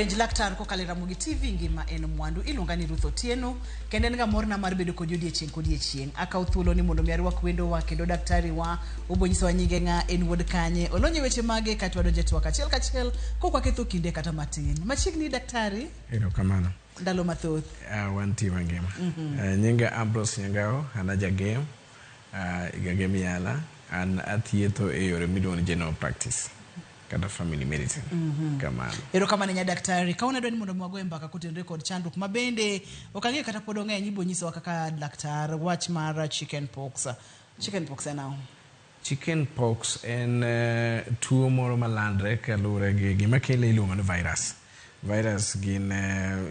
penj laktar kokalo e ramogi tv ngima en mwandu iluonga ni ruth otieno kendo en ga morna mar bedo kodi odiechieng' kodiechieng' akaw thuolo ni mondo mi arwak wendowa kendo daktari wa obonyisawa nyinge ng'a en wuod kanye olonye weche mage katwa donje twak achiel kachiel kokwa ketho kinde kata matin machiegni daktari erokamano ndalo mathoth uh, wantie wangima mm -hmm. uh, nyinga ambros nyangao an ajagem uh, igagem yala an athietho e yore miluongo ni general practice kata family medicine mm -hmm. kamano erokamano nya daktari ka unadwa ni mondo mwagoe mbaka kotenre kod chandruok ma bende ok ang'eyo kata pod ong'eny ibonyisowa kaka laktar wach mar chicken pox chicken pox en ang'o Chicken pox en tuo moro malandre kaluwore gi gima kele iluongo ni virus. Virus gin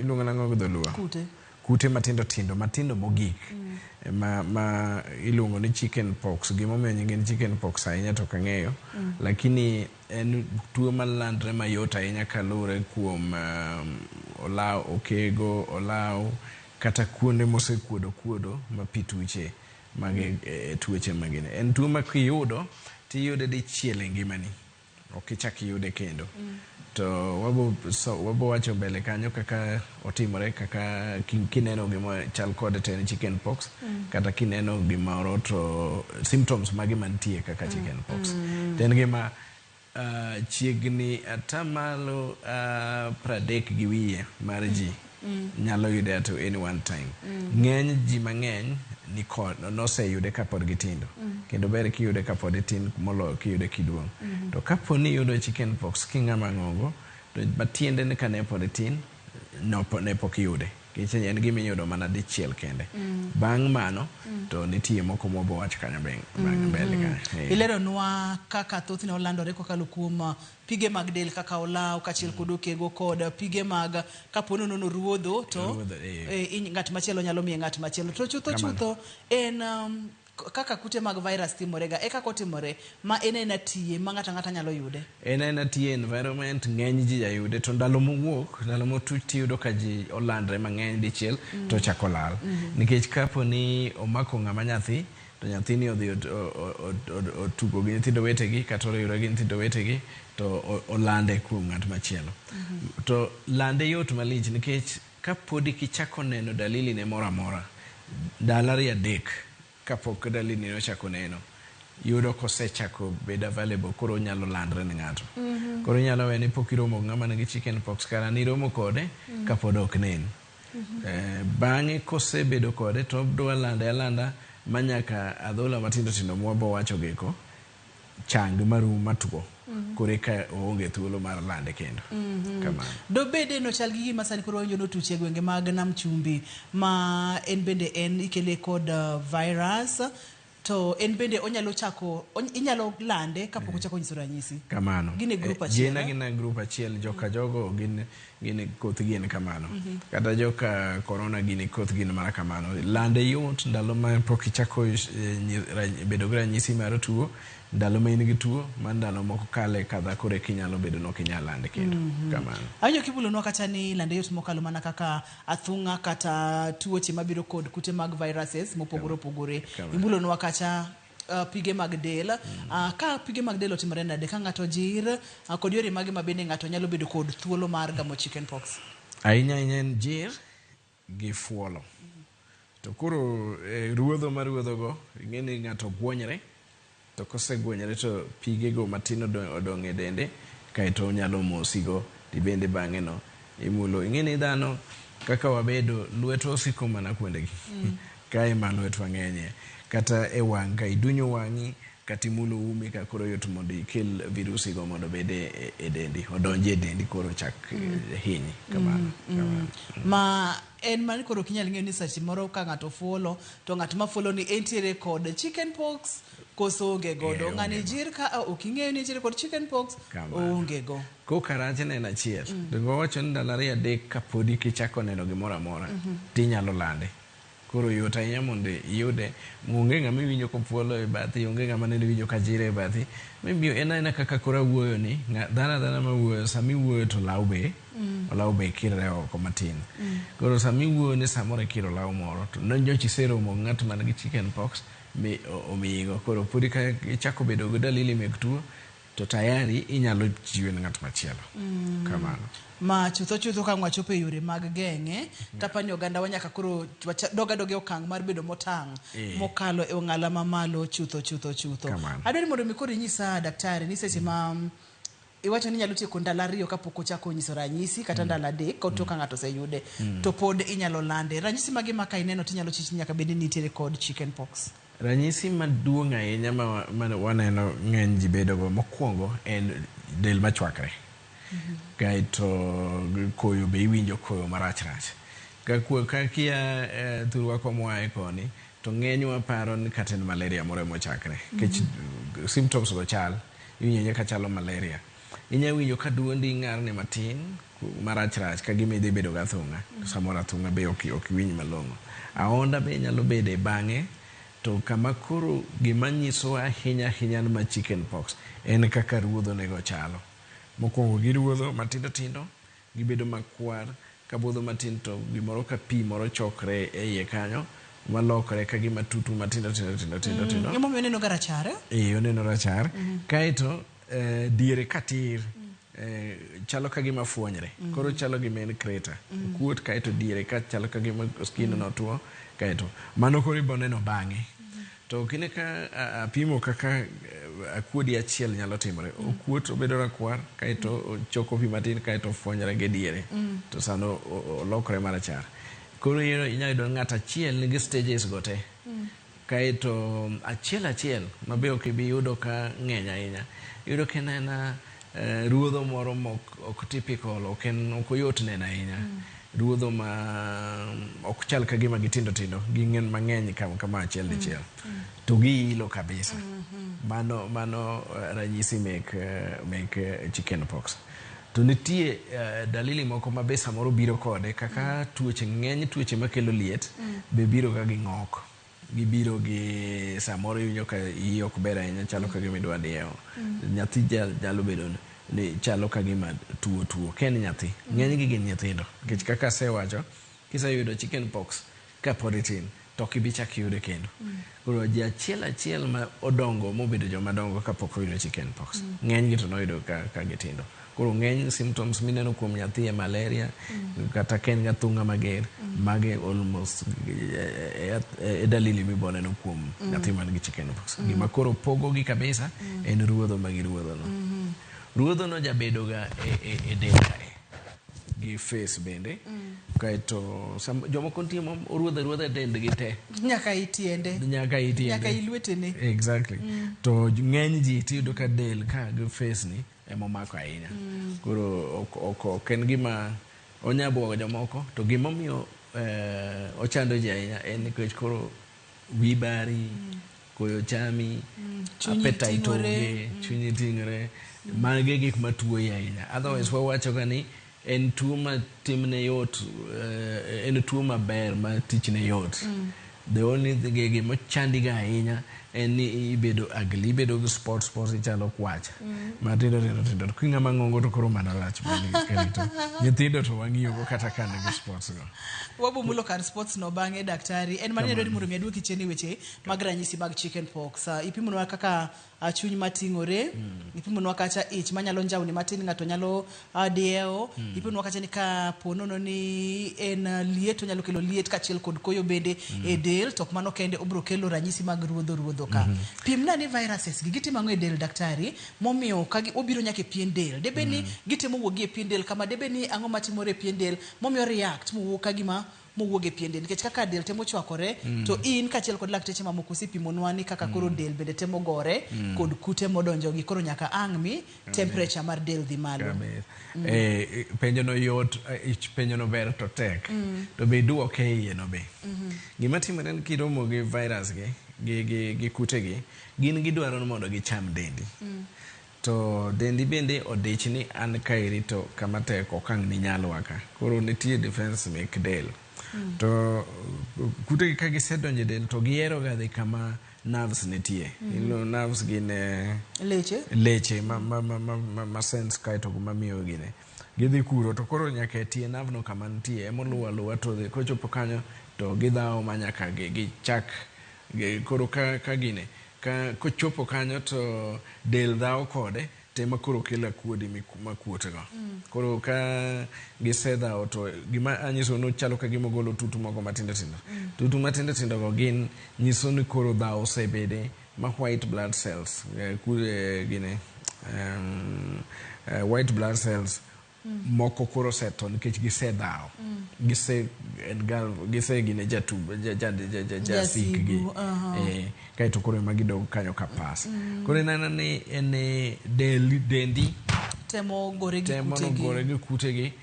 iluongo nang'o gi dholuo? Kute. Kute matindo tindo, matindo mogik. Mm. Ma, ma iluongo ni chicken pox. Gima omiyo nyinge ni chicken pox ahinya to kang'eyo. Mm. Lakini en tuo malandre mayot ahinya kaluwore kuom um, olaw, okego, olaw, kata kuonde mosekuodo kuodo ma pi tuche. Magi e tuoche ma gin. En tuo ma kiyudo to iyude dichiel e ngimani. Ok ichak iyude kendo. To wabo so, wabo wacho mbele kanyo kaka otimore kaka ki- kineno gima chal kode to en chicken pox kata kineno gimoro to symptoms mage mantie kaka chicken pox. To en gima Chiegni ata malo pradek gi wiye mar ji nyalo yude at any one time. Ng'eny ji mang'eny nikod, noseyude kapod gitindo. Kendo ber kiyude kapod itin moloyo kiyude kiduong'. To kapo ni iyudo chicken pox king'ama ng'ongo, to matiende ni kane pod itin, ne pok iyude. Kicheny en gima iyudo mana dichiel kende. Bang' mano to nitie moko mwabo wacho kanyo bang' mbele kanyo. Ee. Ileronwa kaka thothne olandore kokalo kuom pige mag del kaka olaw kachiel kod okego kod pige mag kapo nono noruodho to Ruodho, ee. ee, iny ng'at machielo nyalo miye ng'at machielo. To chutho Kamano. chutho en Kaka kute mag virus timorega e kaka otimore, ma en aena TN ma ng'ato ang'ata nyalo yude. En aena TN environment ng'eny ji jayude to ndalo mowuok, ndalo motuch tiyudo ka ji olandre mang'eny dichiel to ochako lal. Nikech kapo ni omako ng'ama nyathi to nyathini odhi otugo gi nyithindo wetegi kata oriwre gi nyithindo wetegi to olande kuom ng'at machielo. To lande yot malich nikech. Ka pod ik ichako neno daliline moro amora, ndalo ariyo adek ka pok dalinino ochako neno, yudo ka osechako bedo available koro onyalo landre ne ng'ato. Koro inyalo wene pok iromo gi ng'ama nigi chicken pox kara ne iromo kode ka pod ok nen. Bang'e ka osebedo kode to odwa lande alanda ma nyaka adhola matindo tindo ma wabowachogi eko, chang marum matwo koro eka oonge thuolo mar lande kendo. Kamano. Dobede nochal gi gima sani koro wawinjo notuch e gwenge mag Nam Chumbi ma en bende en ikele kod uh, virus to en bende onyalo chako ony, inyalo lande kapok ochako nyiso ranyisi. Kamano. Gin e group Eh, achiel, Gin eh? gin e group achiel joka jogo gin Gini koth gin kamano. Mm -hmm. Kata joka korona gini koth gin mana kamano. Lande yot ndalo ma pok ichako e, bedo gi ranyisi mar tuo, ndalo ma in gi tuo, ma ndalo moko kale kadha kore kinyalo bedo nok inyalo lande kendo. Mm -hmm. Kamano. Awinjo kibulonwa kata ni lande yot mokalo mana kaka athung'a kata tuoche mabiro kod kute mag viruses mopogore opogore. Ibulonwa kata Uh, pige mag del mm. uh, ka pige mag del otimore nade ka ng'ato jir uh, kod yore mage ma bende ng'ato nyalo bedo kod thuolo mar gamo chicken pox ahinya ahinya en jir gi fuolo mm. to koro eh, ruodho ma ruodhogo ing'e ni ng'ato guonyre to kosegwenyore to pigego matin odong' e dende kaeto onyalo mosigo tibende bang'eno Imulo. Ing'e ni dhano kaka wabedo, lwetwa osiko mana kuondegi. Mm. Kae ma lwetwa ng'enye. Kata e wang' ka idunyo wang'i, kata imulo umi ka koro yot mondo ikel virusi go mondo obed e, e, e dendi, odonje e dendi koro chak mm. Eh, hinyi. Mm, kamano. Mm. Kamano. Mm. Ma en mani koro kinyal ng'eyo ni seche moro ka ng'ato fuolo to ng'at ma fuolo ni entiere kod chicken pox koso onge godo ng'ani jir ka ok ing'eyo ni entiere kod chicken pox onge go Koka rach neno achiel. Donge wawacho ni ndalo ariyo adek ka podi kichako neno gimoro amora to inyalo lande. Koro yot ahinya mondo iyude. Onge ng'ama iwinjo kopuolo e bathi, onge ng'ama nende iwinjo ka jiro e bathi. Maybe en aena kaka koro awuoyo ni, dhano adhana ma wuoyo, sama iwuoyo to olaw be, olaw be kirre oko matin. Koro sama iwuoyo ni samoro ikiro olaw moro to nyocha iseromo gi ng'at man gi chicken pox mi omiyigo. Koro podi ka ichako bedo gi dalili mek tuo, to tayari inyalo chiwe ne ng'at machielo mm. kamano ma chutho chutho ka wachopo e yore mag geng'e mm. tapa ni oganda wa nyaka koro doga doga e okang' mar bedo motang' e. mokalo e ong'ala mamalo chutho chutho chutho adwaro ni mondo mi koro inyisa daktari ni seche ma mm, iwacho ni nyalo tieko ndalo ariyo kapok ochako nyiso ranyisi kata mm. ndalo adek ka otoka mm. ng'ato oseyude mm. to pod inyalo lande ranyisi mage ma ka ineno tinyalo chich nyaka bed ni nitiere kod chicken pox Ranyisi maduong' ahinya ma waneno ng'eny ji bedogo mokwongo en del machwakre, kaeto koyo be iwinjo koyo marach rach. Kakia thurwa koma oaye koni to ng'enywa paro ni kata en malaria moro emochakre nikech symptoms go chal, iwinjo kachalo malaria. Inya winjo ka duondi ng'arni matin. marach rach ka gima idhi bedo gi athung'a to samoro athung'a be ok ok iwinj malong'o. Ahonda be nyalo bede bang'e to kama koro gima nyiso ahinya ahinya ni ma chicken pox en kaka ruodho nego chalo. Mokuongo giruodho matindo tindo gibedo makwar ka budho matin to gimoro ka pi moro chokre e iye kanyo malokre ka gima tutni matindo tindo tindo tindo tindo. Mm, emomiyo oneno ga rachar. Eh oneno rachar. Mm -hmm. Kaeto eh, diere ka tir. Mm. Eh, chalo ka gima fuonyre mm. koro chalo gima en kreta mm. kuot kaeto diere ka chalo ka gima skin mm. notuo kaeto mano koro ibo neno bang'e mm. to kine ka apimo kaka eh, akuodi achiel nyalo timore mm. okuot obedo rakwar kaeto mm. choko pi matin kaeto fuonyre gi diere mm. to sano olokre marachar koro inyalo yudo ng'at achiel nigi stages go te mm. Kae to achiel achiel ma be ok ibi yudo ka ng'eny ahinya, iyudo ka en aena eh, ruodho moro ma ok, ok typical, ok en ok oyot neno ahinya. Mm. Ruodho ma ok chal ka gima gitindo tindo, ging'en mang'eny kama, kama achiel mm. dichiel. Mm. Mm. To giilo kabisa. Mm -hmm. Mano, mano eh, ranyisi mek, eh, mek eh, chicken pox. To nitie uh, dalili moko ma be samoro biro kode kaka mm. tuoche ng'eny tuoche makelo liet mm. be biro ga gi ng'ok gibiro gi samoro iwinjo ka iyi ok ber ahinya chalo ka gima idwa dieo mm. nyathi nyalo bedo ni chalo ka gima tuo tuo ken nyathi mm. ng'eny gi gin nyithindo nikech kaka asewacho Kiseyudo chicken pox ka pod itin to ok ibi chak yude kendo. Koro ji achiel achiel ma odongo mobedo joma dongo ka pok oyudo chicken pox. Ng'enygi to noyudo ka, ka gitindo. Koro ng'eny symptoms mineno kuom nyathi e malaria kata ka en gathung'a mager, mage almost e, e, e, e dalili miboneno kuom nyathi man gi chicken pox. Gima koro pogogi kabisa en ruodho ma giruodhono. Ruodhono jabedoga e, e, e del kae. gi face bende kaeto sam- jomoko nitie ma oruodho aruodha dendgi te nyaka itiende nyaka itiende nyaka ilwetene exactly to j- ng'eny ji tiyudo ka del ka gi face ni emomako ahinya koro ok- ok ok en gima onya bwogo jomoko to gimomiyo eh, ochando ji ahinya en nikech koro wi bari koyo chami appetite onge chunyi tingre mage gik matuoyi ahinya otherwise wawacho ga ni en tuo ma timne yot eh, en tuo maber ma tichne yot the only thing- gima chandiga ahinya en ni ibedo agli ibedo gi spot spot ichalo kwacha matindo tindo tindo to kinga mang'ongo to koro mana rach mani karito nyithindo to wang'iyogo kata ka nigi spots go wabumulo kar sports no bang'e daktari en mane dwani mondo mi aduoki chien e weche mag ranyisi mag chicken pox uh, ipimonwa kaka uh, chuny mating'ore mm. ipimonwa kacha ich manyalo njawni matin ng'ato nyalo uh, diewo mm. ipimonwa kacha ni ka ponono ni en uh, liet onyalo kelo liet kachiel kod koyo bende mm. e del to ok mano kende obro kelo ranyisi mag ruodho ruodho ka mm -hmm. pimna ni viruses gi gitimo ang'o e del daktari momiyo ka gi- obiro nyaka e pien del debe ni gitemo wuogi e pien del kama debe ni ang'o matimore e pien del momiyo react mowuok ka gima mowuog e pien del nikech kaka del temo chwakore mm. to in kaachiel kod lakteche mamoko usepimonwa ni kaka mm. koro del bende temo gore mm. kod kute modonjo gi koro nyaka ang' mi temperature mar del dhi malo mm. eh, penjo no yot eh, penjo no ber to tek mm. to be iduoke e iye no be mm -hmm. gima timore ni kiromo gi virus gi gi, gi, gi kute gi gin gidwaro mondo gicham dendi mm. To dendi bende odich ni an kaeri to kama tek ok ang' ninyal wa ka. Koro nitie defense mek del. Mm. To kute gi ka gisedonjo e del to gihero ga dhi kama nerves nitie. Mm -hmm. You know, nerves gin eh, leche, leche ma, ma, ma, ma, ma, ma sense kae to ma miyo gine. Gidhi kuro to koro nyaka e tie nerve no kama nitie emoluwa luwa to kochopo kanyo to gidhawo ma nyaka gichak gi Koro ka ka gine ka kochopo kanyo to del dhawo kode to ema koro kelo akuodi makuotgo. Koro ka gisedhawo to gima anyiso ni chalo ka gima ogolo tutu moko matindo tindo. Tutu matindo tindo go gin nyiso ni koro dhawo osebede ma white blood cells eh, eh, gine eh, eh, white blood cells moko koro osetho nikech gisedhawo gise en ga- gise gine jatu ja- ja- ja- ja- ja- jasikgi Jasigu, aha. Eh, kaeto koro ema gidog kanyo ka pas koro ineno ni en eh, del- dendi temo gore gi temo kutegi. nogore gi kutegi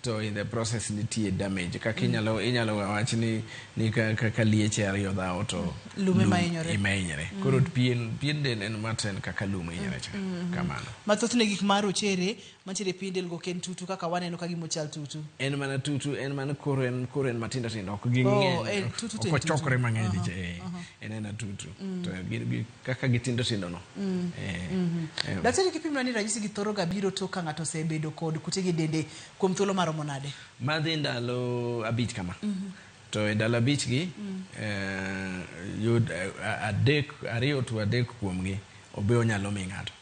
to in the process nitie damage kaka inyalo inyalo wach ni ni ka, ka, ka lieche ariyo dhawo to Lum ema hinyore. ema hinyore koro pien pien del en maten kaka lum hinyore cha kamano mathothne gik ma rochere Mantiere e piny del go ok en tutu kaka waneno ka gima ochal tutu. En mana tutu, en mana koro en koro en matindo tindo ok gi oh, ng'eny. Eh, tutu ok ochokore mang'eny diche. Uh eh, -huh. uh -huh. En ena tutu. Mm. To gi, gi, kaka gitindo tindo no. Mm. Eh, mm -hmm. eh. Daktari kipimna ni ranyisi gi thoro ga biro tok ka ng'ato osebedo kod kute gi dende kuom thuolo maromo nade? Madhi ndalo abich kama. Mm -hmm. to e dala bichgi mm. eh, yud eh, adek ariyo to adek kuomgi obe onyalo mi ng'ato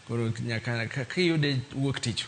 Koro nyaka kaka iyude wuok tich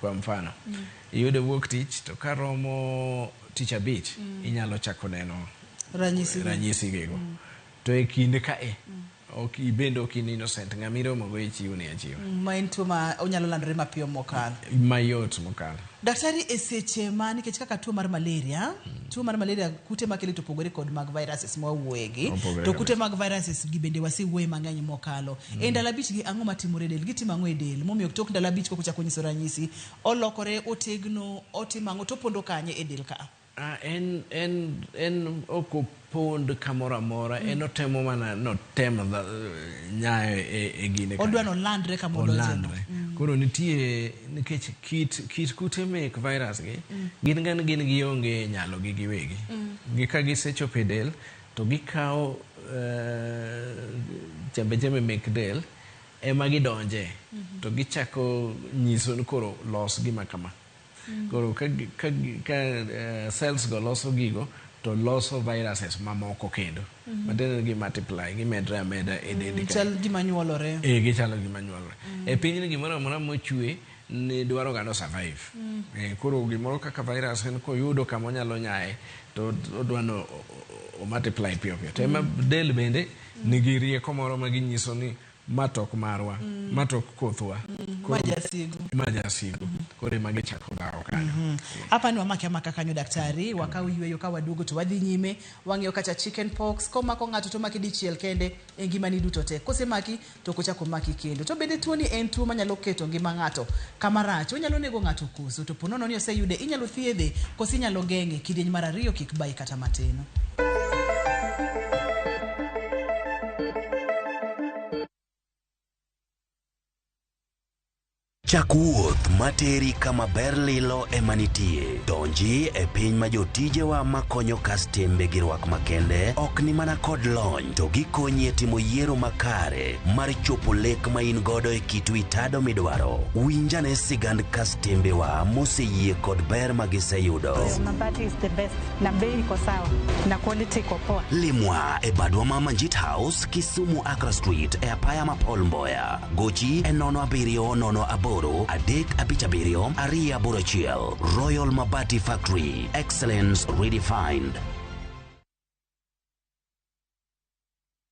kwa mfano. Mm. Iyude wuok tich to ka romo tich abich mm. inyalo chako neno ranyisi ranyisi gigo. Mm. To e kinde ka e mm. ok ibende ok in innocent ng'ama iromogo ichiwo ni achiwa. Mm, ma en tuo ma onyalo landore mapiyo mokalo. Mayot mokalo. Daktari, e seche ma nikech kaka tuo mar malaria, tuo mar malaria kute makele to pogore kod mag viruses ma wawuoyegi. Opogore To kute mag viruses gi bende wasewuoye mang'eny mokalo. E ndalo abich gi ang'o matimore e del? Gitimo ang'o e del? Momiyo tok ndalo abich koka ochako nyiso ranyisi, olokore, otegno, otimo ang'o to opondo kanye e del ka? A, en, en, en ok opond kamoro amora. Mm. En otemo mana notem nyayo e, e gine. Odwa no landre kama odonje. Olandre. Mm. Koro nitie nikech kit kit kute mek virus gi mm. gin gan gin gi onge nyalo gi giwegi. Mm. Gi ka gisechopo e del to gikawo uh, chembe chembe mek del ema gidonje mm -hmm. to gichako nyiso ni koro los gima kama. Koro ka, ka, ka uh, cells go loso gigo to loso viruses mamoko kendo mm -hmm. matiende gi multiply gimedre ameda e mm, dendi mm, chal gima nyuolore e gichalo gima nyuolore mm. e piny ni gimoro amora mochwe ni dwaro gano survive mm. e, koro gimoro kaka virus en koyudo kama onyalo nyaye to odwano o multiply piyo piyo to ema mm. del bende mm. nigi rieko moro ma ginyiso ni Ma to ok marwa, ma to ok kothwa. Ma Koro jasigu. ma jasigu. Koro ema gichako dhawo kanyo. Hapa ni wamake amaka kanyo daktari, wakaw yueyo ka waduogo to wadhi nyime. Wang'eyo kacha chicken pox komako ng'ato to omaki dichiel kende e ngimani duto te. Kosemaki to ok ochak omaki kendo. To bende tuoni en tuo manyalo keto ngima ng'ato kama rach. Onyalo nego ng'ato Koso to po nono ni oseyude, inyalo thiedhe koso inyalo geng'e. Kidieny mar ariyo kik bayi kata matin. Chak wuoth materi kama ber lilo ema nitie. Donji e piny ma jotijewa makonyo kastembe gi rwak makende ok ni mana kod lony to gikonyi e timo yiero makare mar chopo lek ma in godo e kitu itado midwaro. Winjane sigand kastembewa moseyie kod ber ma giseyudo. Mabati is the best na bei iko sawa na quality iko poa. Limwa e badwa ma Manjit House, Kisumu Accra Street e apaya ma Paul Mboya. Gochi e nono abiriyo nono aboro adek abich abiriyo ariyo aboro achiel. Royal Mabati Factory, excellence redefined.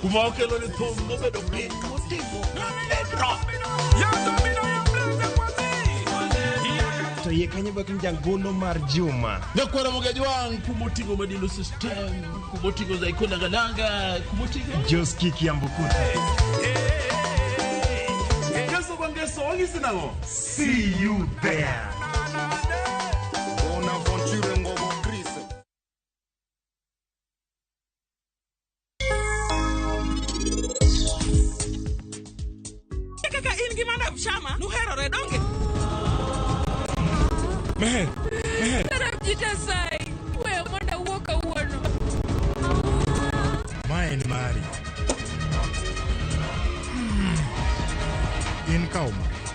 kuma okelo ni thum nobedo piny motimo ledro to iye kanyo bak njangolo mar juma nyakwera mogajwang kumotingo madilo system kumotingo zaiko langalanga kumotingo joski kiambukuta ngeso kwa ngeso wangisi nango see you there kaka in gi madam shama nuherore donge Meher, meher. Madam Jitasai, wewe mwenda uo kawuono. Ma en mari. In ka omaki.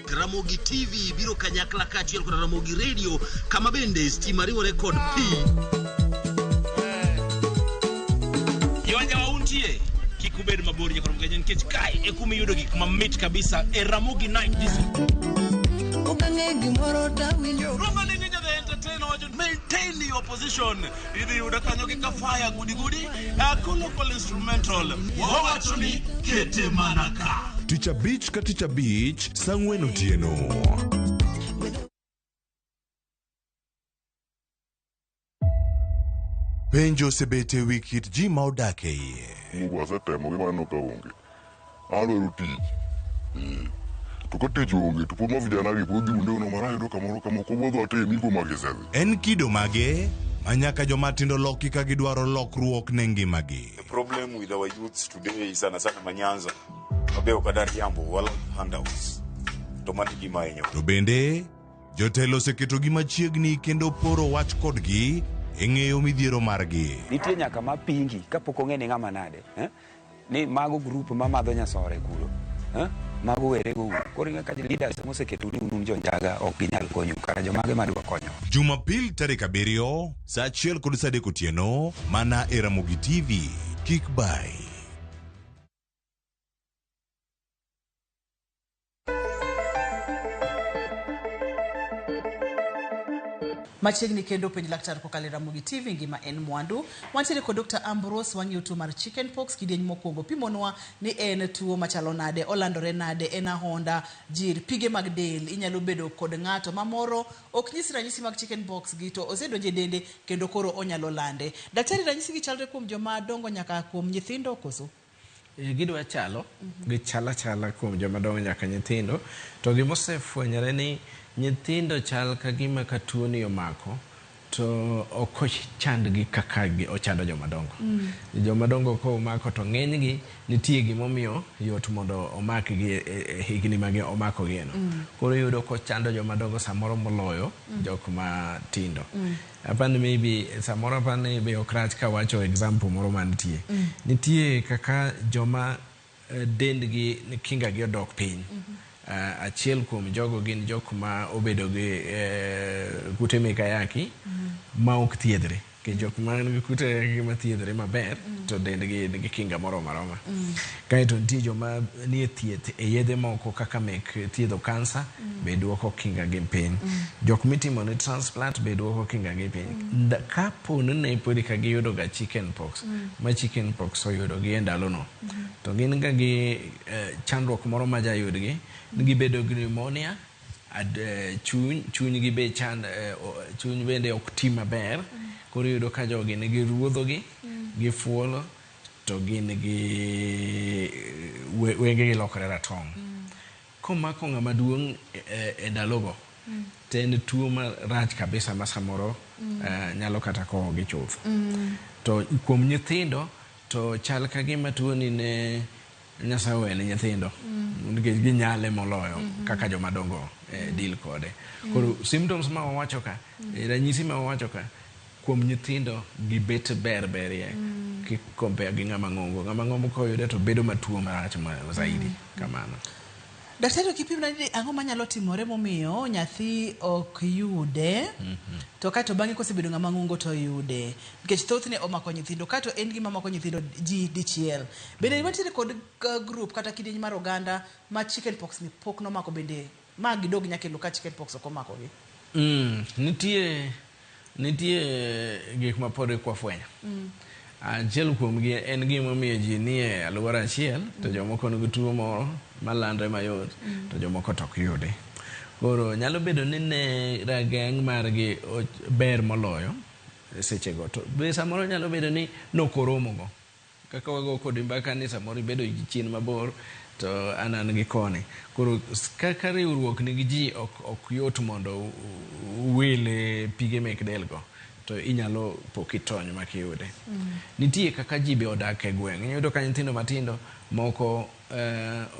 Ramogi TV biro kanyakla kaachiel kod Ramogi Radio kama bende stima riwore kod pi. Yonja wauntie kik ubed mabor nyaka Ramogi nikech kae e kuma iyudo gik mamit kabisa e Ramogi Night Disco. Roba ni nyinyi the entertainer wacho maintain your position. idhi yuda kanyo gi kafaya gudigudi ako local instrumental wawacho ni kete mana ka tich abich ka tich abich sang'wen otieno penjo osebet e wi kit ji ma odak e iye Mungu asetemo gi mano ka onge. An dwaro tich. Eh. To ka tich onge to pod ma vijana gi pod dhi unde ono mara yudo kamoro kama ok obodho ate mi kuom agisedhi. En kido mage ma nyaka joma tindo loki ka gidwaro lokruok ne ngimagi? The problem with our youths today is sana sana manyanza. Abe okadar jambo wala handouts. To mani gima enyo. To bende, jotelo oseketogi machiegni kendo poro wach kodgi e ng'eyo midhiero margi. Nitie nyaka ma pingi kapok ong'e ni ng'ama nade. Eh? ni mago group ma madho nyasore kuro eh? mago were go koro inge ka leaders moseketu ni unun jonjaga ok ginyal konyu kara jomage madwa konyo Jumapil tarik abiriyo saa achiel kod saa adek otieno mana e Ramogi TV. Kik bay. Machiegni kendo penj laktar kokalo e Ramogi TV ngima en mwandu. Wantiere kod Dr. Ambrose wang'iyo tuo mar chicken pox kidieny mokwongo pimonwa ni en tuo machalo nade, olandore nade, en ahonda, jir, pige mag del, inyalo bedo kod ng'ato ma moro ok nyis ranyisi mag chicken pox gi to osedonjo e dende kendo koro onyalo lande. Daktari ranyisi gi chalre kuom joma dongo nyaka kuom nyithindo koso? Eh, gidwa chalo gichal achala kuom joma dongo nyaka nyithindo to gima osefwenyore ni nyithindo chal ka gima ka tuoni omako to ok ochandgi kaka gi- ochando joma dongo joma dongo ka omako to ng'enygi nitie gimomiyo yot mondo omakgi e- e- e higni magi omakogieno koro iyudo kochando joma dongo samoro moloyo jok matindo Apani maybe samoro apani be ok rach ka wacho example moro mantie. Mm. Nitie kaka joma eh, dendgi kingagi odok piny. Mm -hmm. Uh, achiel kuom jogo gin jok ma obedo gi uh, kute mikayaki mm -hmm. ma ok thiedhre ke jok man gi kute ma thiedhre maber mm -hmm. to dendgi nigi kinga moro maroma mm -hmm. Kae to nitie joma nie thieth e yedhe moko kaka mek thiedho kansa, be dwoko kingagi piny. Jok mitimo ne transplant be dwoko kingagi piny. Nda, ka po ni ne podi ka giyudo ga chicken pox, ma chicken pox oyudo gi e ndalo no, to gin ga gi eh, chandruok moro ma ja yudgi, ni gibedo gi pneumonia, ad, eh, chuny, chuny gi be chand, eh, o, chuny bende ok ti maber. Koro iyudo ka jogi nigi ruodho gi, gifuolo. to gin gi wenge gi lokore ratong'. Mm. Komako ng'ama duong' e, e, e ndalogo mm. to en tuo marach kabisa ma samoro mm. uh, nyalo kata kowo gi chuth. Mm. To kuom nyithindo to chal ka gima tuoni ne Nyasaye owene nyithindo mm. nikech ginyale moloyo mm -hmm. kaka joma dongo eh, deal kode. Mm. Koro symptoms ma wawacho ka, mm. ranyisi ma wawacho ka Kuom nyithindo gi bet ber berie ki compare gi ng'ama ng'ongo. Ng'ama ng'ongo koyude to bedo matuo marach ma zaidi kamano. Daktari ok ipimna ni ang'o manyalo timore momiyo nyathi ok yude to kato bang'e kosebedo ng'ama ng'ongo to oyude nikech thothne omako nyithindo kato en gima mako nyithindo ji dichiel. Bende wantiere kod group kata kidieny mar oganda ma chicken pox ni pok nomako bende Ma gidog nyaka e loka chicken pox ok omako gi. Mm, nitie nitie gik ma pod ikwa fwenyo. Mm. Achiel kuom gi en gima miyo ji nie alwora achiel mm. to jomoko nigi tuo moro ma landre mayot mm. to jomoko to ok yudi. Koro nyalo bedo ni ne rageng' margi ber moloyo sechego to be samoro nyalo bedo ni nokoromogo. Kaka wago kodi mbaka ni samoro ibedo gi chien mabor to an an gi koni. Koro kaka riwruok ni gi ji ok ok yot mondo uwil pige mek del go to inyalo po kitony mak iyude. Nitie kaka ji be odak e gweng'. Inyalo yudo ka nyithindo matindo moko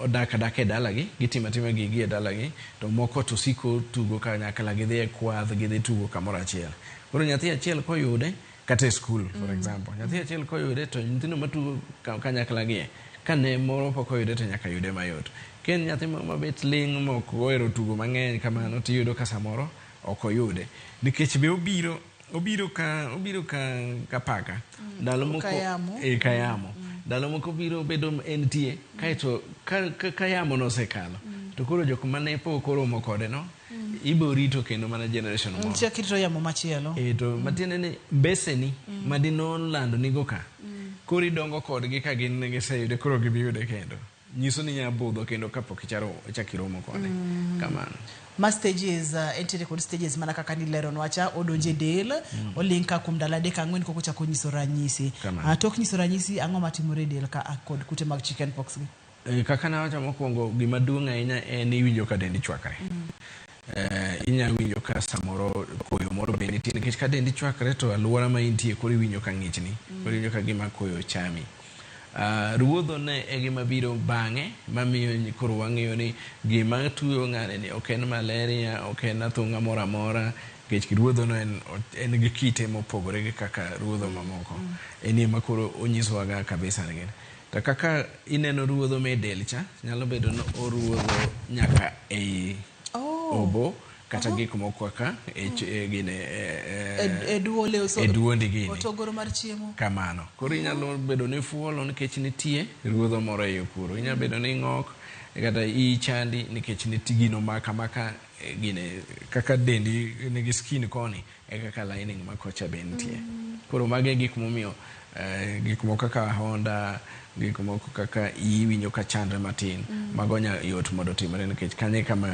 odak adaka e dala gi, gitimo atima gig gi e dala gi to moko to siko tugo kanyakla gidhi e kwadh gidhi tugo kamoro achiel. Koro nyathi achiel koyude kata e skul for mm. example nyathi mm. achiel koyude to nyithindo matugo kanyakla gie kane moro pok oyude to nyaka yude mayot ken nyathi mabet ling mok ohero tugo mang'eny kamano to iyudo ka samoro ok oyude nikech be obiro obiro ka obiro ka ka paka mm. ndalo moko kayamo e kayamo ndalo moko biro bedo entie kaeto ka kayamo nosekalo to koro jok mane pok oromo kode no mm. ibo rito kendo mana generation moro chak rito yamo machielo eh to mm. matiende ni mbeseni mm. madinon lando nigo ka mm. kori dongo kodgi ka gin ne giseyude koro gibiyude kendo nyiso ni nya budho kendo kapok icharo chakiromo kode mm. kamano ma stages uh, entiere kod stages mana kaka nileronwa cha odonjo e del mm. oling ka kuom ndalo adek ang'wen koko chako nyiso ranyisi uh, tok nyiso ranyisi ang'o matimore e del ka kod kute mag chicken pox gi Eh, kaka nawacho mokwongo gima duong' ahinya en iwinjo ka dendi chwakre Eh, inya winjo ka samoro koyo moro be nitie nikech ka dendi chwakre to alwora ma intie koro iwinjo ka ng'ichni koro iwinjo ka gima koyo chami Ah, ruodho ne e gima biro bang'e mamiyo nyi- koro wang'eyo ni gima tuyo ng'ane ni ok en malaria ok en athung'a moro amora nikech ruodhono en, en gi kite mopogore gi kaka ruodho mamoko en ema koro onyisowaga kabisa ni gini To kaka ineno ruodho me del cha, nyalo bedo ni oruodho nyaka ei oh. obo kata uh -huh. gik moko kaka e, mm. e, gine e, e duole e duondi gini otogoro mar chiemo kamano koro inyalo mm. bedo ni fuolo nikech nitie ruodho moro e kuro inyalo bedo ni ng'ok kata ichandi nikech nitie gino maka maka gine kaka dendi nigi skin koni e kaka lining ma kocha be nitie. Mm. Koro mago e gik momiyo eh, gik moko kaka Honda, gik moko kaka iyi winjo ka chandre matin, mm. mago nya yot mondo otimre nikech kanye kama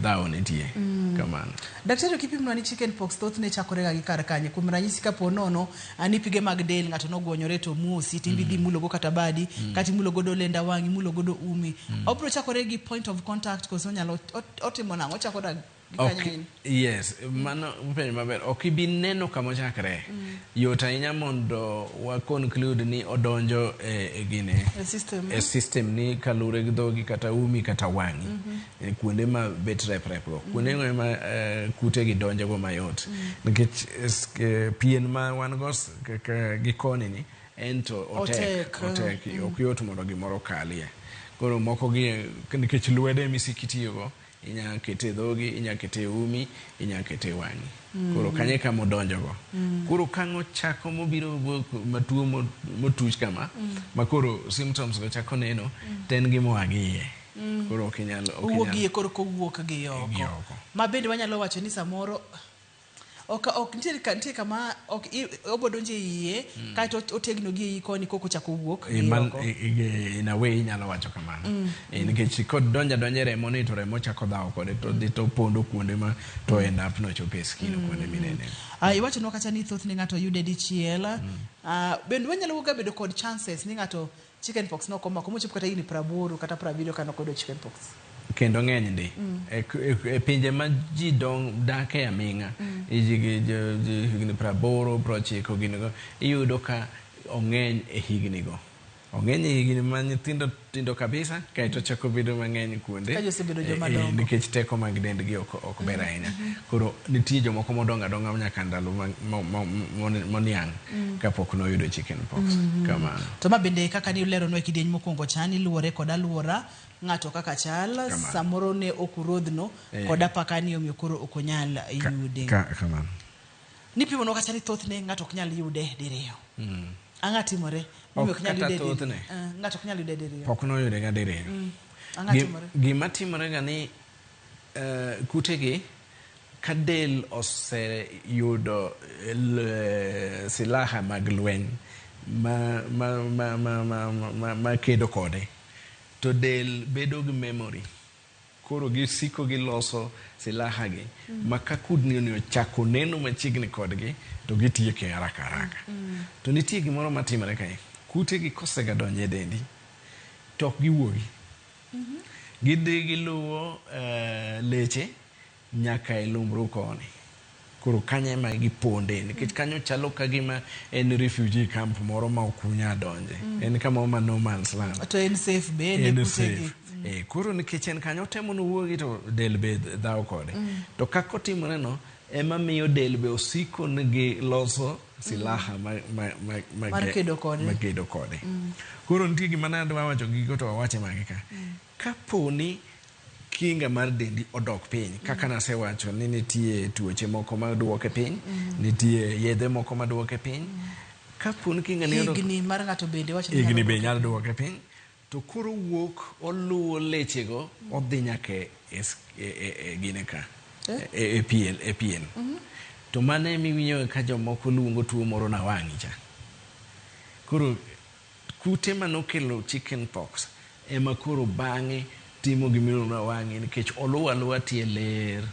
dhawo nitie. Mm. Kamano. Daktari kipimna ni chicken pox thothne chakorega gi kar kanye. Kuom ranyisi kapo nono ani pige mag del ng'ato nogwonyore to muosi timbi dhi mm. mulo go kata badi, mm. kata imulo godo lenda wang'i, imulo godo umi. Mm. Obro chakore gi point of contact koso nyalo otimo nang'o? Ochakore Ok, yes, mano penjo maber. Ok ibi neno kama ochakre. Mm. Yot ahinya mondo wa conclude ni odonjo e, e gini e system, e system ni kalure gi dhogi kata umi kata wang'i mm -hmm. e kuonde ma bet rep rep go mm. kuonde go ma e, kute gi donjo go mayot mm. nikech e, pien ma wan go gi koni ni en to otek otek, otek. Mm. ok yot mondo gimoro kalie koro moko gi nikech lwede misikitiyo go inya kete e dhogi inya kete e umi inya kete e wang'i koro mm. kanye kama odonjogo mm. koro kang' ochako mobiro matuo motuch kama mm. ma koro symptoms go chako neno to en gi moa gi iye koro ok inyal owuog iye koro kowuok gi oko ma bende wanyalo wacho ni samoro Ok ok nitie ka nitie kama ok i- obo donjo e iye kaeto ot- otegno gi iyi koni koko chako wuok Eh, gi man- oko. eh, eh, in a way inyalo wacho kamano Eh, nikech kod donja donja e remo ni to remo chako dhawo kode to dhi to pondo kuonde ma to end up nochopo e skin kuonde minene Ah, iwachonwa kata ni thothne ng'ato yude dichiel Ah, bende wanyalo wuoga bedo kod chances ni ng'ato Chicken pox ne ok omako mochopo kata higni praboro kata prabiriyo ka ne ok oyudo chicken pox. kendo ng'enydi e k- e k- e pinje ma ji dong dake aming'a ji- ji- ji- ji- higni praboro prochiko ginigo iyudo ka ong'eny e hignigo ong'eny e higni ma nyithindo tindo kabisa kaeto chako bedo mang'eny kuonde Ka ji osebedo eh, joma eh, dongo. nikech teko mag dendgi ok ok ber ahinya koro nitie jomoko modongo adonga nyaka ndalo ma- mo- mo- mo- moniang' mm. kapok noyudo chicken pox mm -hmm. kamano to ma bende kaka ni uleronwa e kidieny mokwongo cha ni luwore kod alwora ng'ato kaka chal samoro ne ok urodhno eh. kod apaka ni omiyo koro ok onyal yude ka, ka, kamano nipimo no kata ni thothne ng'ato ok nyal yude diriyo mm. ang'a timore mimi ok nyal yude thothne eh, ng'ato ok nyal yude diriyo pok noyude ga diriyo mm. ang'a timore gima timore ga ni uh, kutegi Ka del oseyudo silaha mag lweny ma kedo kode, to del bedo gi memory. Koro gisiko giloso silaha gi ma ka kudni ni ochako neno machiegni kodgi to gitieke haraka haraka. To nitie gimoro matimore kae, kute gi kosega donjo e dendi to ok giwuogi. Gidhi giluwo eh, leche nyaka e lumbru koni. Koro kanyo ema giponde nikech kanyo chalo ka gima en refugee camp moro ma ok unya donje. En kama ma no man's land. To en safe be en e en kutegi. safe. Eh, koro nikech en kanyo otemo nowuogi to del be dhawo kode. To kaka otimoreno ema miyo del be osiko nigi loso silaha ma, ma, ma, ma, Mar ge- kedo kode. ma kedo kode koro nitie gima nadwa wacho gigo to awache mage ka kapo ni kinga mar dendi odok piny kaka nasewacho ni nitie tuoche moko ma duoke piny nitie yedhe moko ma duoke piny kapo ni kinga ni odok higni mar ng'ato bende wacho ni higni nyalo be nyalo duoke piny To koro owuok oluwo lechego odhi nyaka e, e, e, e, e gine ka eh? e, e pien, e pien. Mm -hmm. to mano ema iwinjoga ka jomoko luongo tuo moro na wang'i cha koro kute ma nokelo chicken pox ema koro bang'e timo gimiluongo na wang'i nikech oluwo aluwa tie ler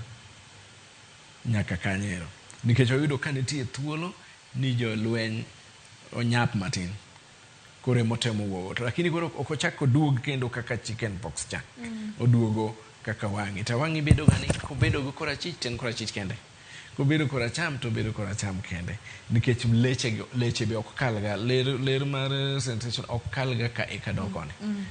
nyaka kanyero nikech oyudo ka nitie thuolo ni jolweny onyap matin koro ema otemo wuogo to lakini koro ok ochak oduog kendo kaka chicken pox cha mm. oduogo kaka wang'i to wang'i bedo gani kobedo go korachich to en korachich kende kobedo koracham to obedo koracham kende nikech leche leche be ok kalga ler ler mar eh, sensation ok kalga ka e kadok mm, koni mm.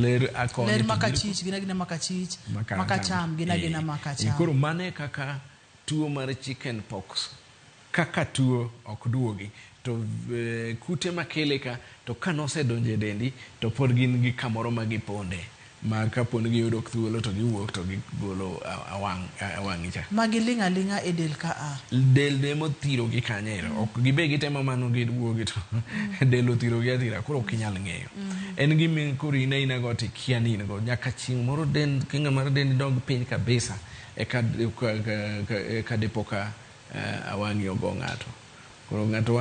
ler akoni ler makachich gina gina makachich makacham gina gina eh, makacham koro mane kaka tuo mar chicken pox Kaka tuo ok duogi to kute makele ka to ka nosedonjo e dendi to pod gin gi kamoro ma giponde ma kapo ni giyudo thuolo to giwuok to gigolo e wang'i cha. Ma giling' aling'a e del ka a. Del be emothirogi kanyo ero. Ok gibe gitemo mano giwuogi to del othirogi athira koro ok inyal ng'eyo. En gima koro in aina go to ikia ni in go nyaka chieng' moro dend kinga mar dendi dog piny kabisa eka eka dipo ka awang'i ogo ng'ato koro ng'ato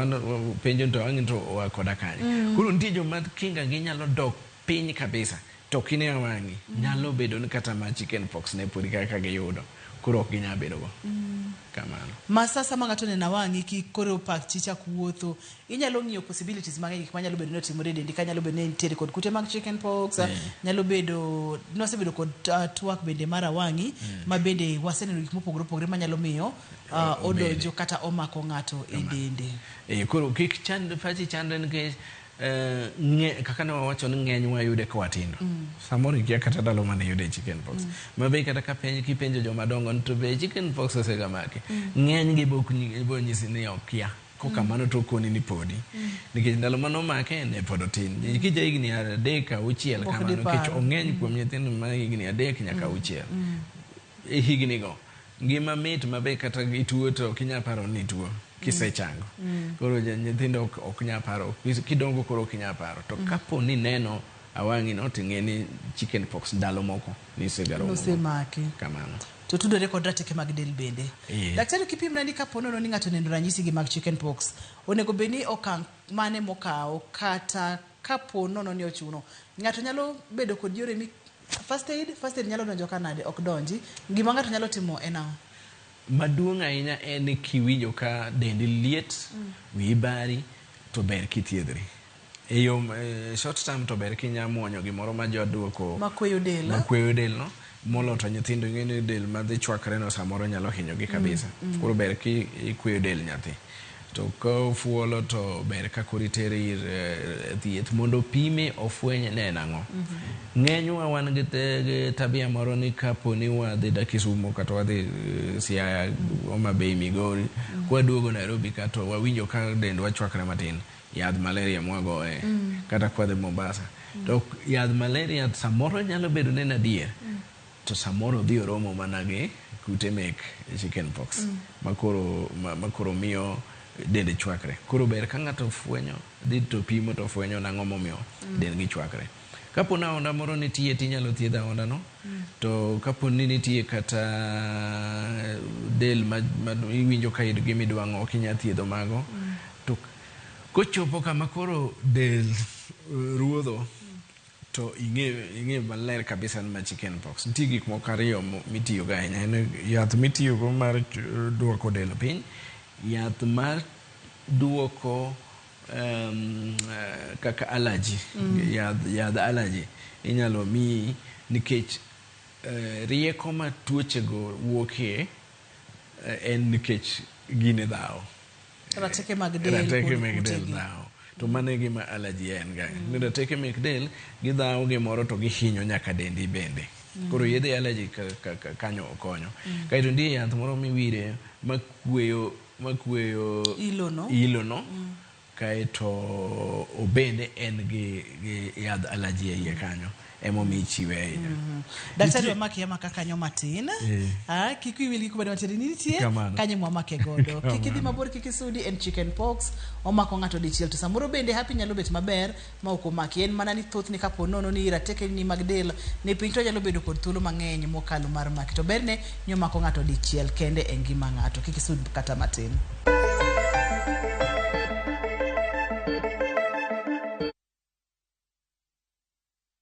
penjo nto ang'e nto oa koda kanye mm. koro nitie joma kinga gi nyalo dok piny kabisa to kine awang'i mm. nyalo bedo ni kata ma chicken pox ne podi kaka giyudo koro ok ginyal bedo go mm. kamano ma sasa ma ng'ato nena wang'i ki koro pak chicha kuwuotho Inyalo ng'iyo possibilities mang'eny gik manyalo bedo ni otimore e dendi ka nyalo bedo ni nitiere kod kute mag chicken pox, mm. nyalo bedo nosebedo kod uh, twak bende mar awang'i mm. ma bende waseneno gik mopogore opogore manyalo miyo uh, odonjo kata omako ng'ato e dende. Eh, koro kik chand pachi chandre nikech eh, nge kaka ne wawacho ni ng'eny wayude ka watindo mm. samoro ikia kata ndalo mane yude chicken pox mm. ma be kata ka penj kipenjo joma dongo to be chicken pox osegamaki mm. ng'eny gi bok nyisi ni okia Kok kamano to okoni ni podi. Mm. Nikech ndalo mane omake ne pod otin. Mm. Nikech ja higni adek auchiel kamano nikech ong'eny kuom mm. nyithindo ma higni adek nyaka mm. auchiel. Mm. E higni go ngima mit mabe kata ituo to ok inyal paro ni ituo kisechango. Mm. mm. Koro nyithindo ok, ok nyal paro kidongo koro ok inyal paro. To mm. kapo ni neno awang'ino to ing'e ni chicken pox ndalo moko nosemaki to tudore kod rateke mag del bende. Yeah. Daktari, kipim nani kapo nono ni ng'ato neno ranyisi gi mag chicken pox, onego bed ni okang' mane mokawo kata kapo nono ni ochuno ng'ato nyalo bedo kod yore mi first aid first aid nyalo donjo kanade ok donji gima ng'ato nyalo timo en ang'o maduong' ahinya en kiwinjo ka dendi liet mm. wiyi bari to ber kithiedhri E yo e short term to ber kinya muonyo gimoro ma jo duoko makweyo del. Makweyo del no molo to nyithindo ing'e ni del ma dhi chwakre no samoro nyalo hinyogi kabisa. Mm, mm. Koro ber ki ikweyo del nyathi. To ka ofuolo to ber ka koro itere ir uh, thieth mondo opime ofweny ne en ang'o. Mm -hmm. Ng'enywa wan gi, te, gi tabia moro ni kapo ni wadhi da Kisumo kata wadhi uh, Siaya, Homa Bay, Migori, mm -hmm. kwaduogo Nairobi ka to wawinjo ka dendwa chwakre matin. Mm Yadh malaria mwagoye kata kwadhe Mombasa. To yadh malaria samoro nyalo bedo ni en adier to samoro odhi oromo mana gi kute mek chicken pox ma koro ma, ma koro miyo dende chwakre. Koro ber ka ng'ato ofwenyo dhi to pimo to ofwenyo nang'o momiyo dendgi chwakre. Kapo ni aonda moro nitie to inyalo thiedh aondano. To kapo ni nitie kata del ma, ma iwinjo ka in gi midwang'o ok inyal thiedho mago. To kochopo kama koro del eh, ruodho to ing'e ing'e maler kabisa ni ma chicken pox. Nitie gik moko ariyo mo- mitiyogo ahinya. En yath mitiyogo mar ch- duoko del piny, yath mar duoko um, uh, kaka allergy mm. yadh, yadh allergy inyalo miyi nikech uh, rieko ma tuochego wuokie uh, en nikech gine dhawo rateke mag del rateke mag del dhawo to mano e gima allergy en ga mm. rateke mek del gidhawo gimoro to gihinyo nyaka dendi bende mm. koro yedhe allergy kanyo okonyo mm. kaeto ndie yath moro miwire makweyo makueyo ilono, ilono mm. kaeto obende en gi, gi yadh alaji e iye kanyo emomi ichiwe ahinya mm -hmm. daktari wamaki ama kakanyo matin yeah. ah, kik iwil gi kubedo matin nitie kanyo mwamake godo kik idhi mabor kik isudi en chicken pox omako ng'ato dichiel to samoro bende hapi nyalo bet maber ma ok omaki en mana ni thothne ka po nono ni ratekeni mag del ni piny to onyalo bedo kod thuolo mang'eny mokalo mar maki to berne ni omako ng'ato dichiel kende e ngima ng'ato kik isud kata matin.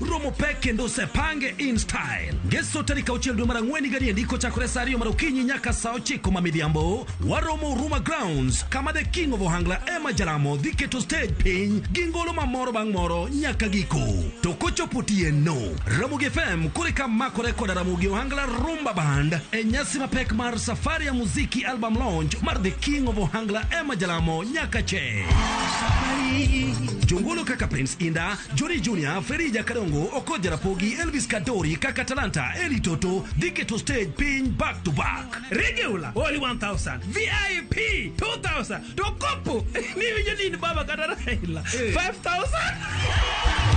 romo pek kendo osepange in style ngeso tarik auchiel dwe mar ang'wen higa niendi kochakore sa ariyo mar okinyi nyaka sa ochiko ma midhiambo waromo ruma grounds kama the king of ohangla ema jaramo dhi keto stage piny gi ngolo ma moro bang' moro nyaka giko to kochopo tieno ramogi fm kore ka makore koda ramogi ohangla rumba band e nyasi mapek mar safari ya muziki album launch mar the king of ohangla ema jalamo nyaka che jongolo kaka prince inda Jori Junior, Ferija Kadongo, Okoja Rapogi, Elvis Kadori, Kaka Talanta, Eli Toto, Dike to stage piny back to back. Regular only 1000, VIP 2000, to kopo ni winjo ni in baba kata Raila 5000.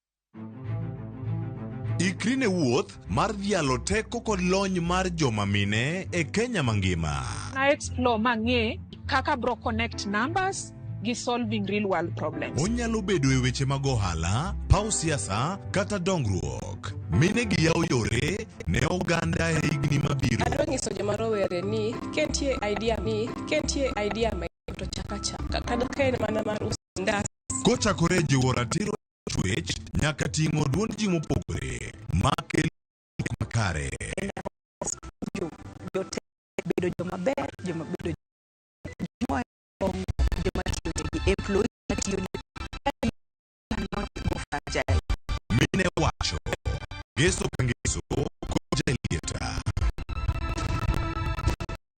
Ikri ne wuoth mar dhialo teko kod lony mar joma mine e Kenya mangima. na explore mang'e kaka bro connect numbers gi solving real world problems Onyalo bedo e weche mag ohala, paw siasa, kata dongruok. Mine gi yawo yore ne oganda e higni mabiro. adwa nyiso joma rowere ni kentie idea ni kentie idea ma to chaka chaka kata ka en mana mar uso Ndas. Kochakore jiwo ratiro chuech nyaka ting'o duond ji mopogore ma kelo gik makare. Jote bedo joma ber, joma bedo joma kong'o, joma tiyo negi, employee matiyo negi. Cannot go fragile. Mine wacho, Yesu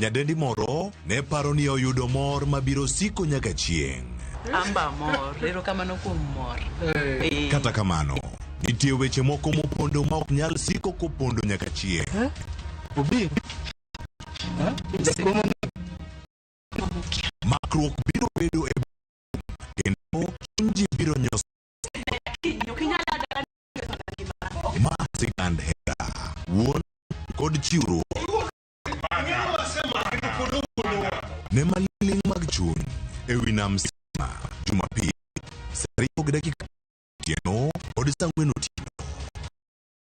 Nyadendi moro ne paro ni oyudo mor mabiro siko nyaka chieng'. Amba mor, ero kamano kuom mor. Eh. Kata kamano, nitie weche moko mopondo ma ok nyal siko kopondo nyaka chieng'. Makruok biro bedo e kendo chinji biro nyos ma sigand hera wuon kod chiwruok ne maling' mag chuny e wi nam sima jumapil saa ariyo gi dakika otieno kod saa ang'wen otieno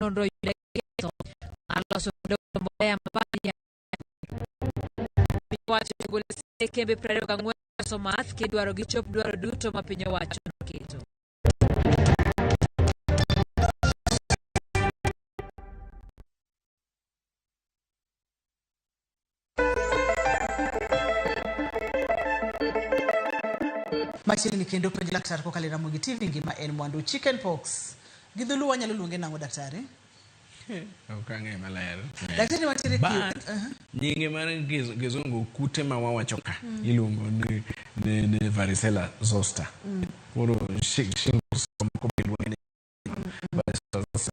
nonro yude ketho mar loso kod olo mbolea mabadi piny owacho ogolo sende kembe 24 loso math kidwaro gichop dwaro duto ma piny owacho noketo machiegni kendo penj laktar kokalo e ramogi tv ngima en mwandu chicken pox gi dholuo wanyalo luonge nang'o daktari ok ang'e maler daktari watiere ki- But, Aha. nyinge mar giz- kizungu kute ma wawacho ka iluongo ni, ni, ni varicella zoster koro shi- shingles moko be luonge ni varicella zoster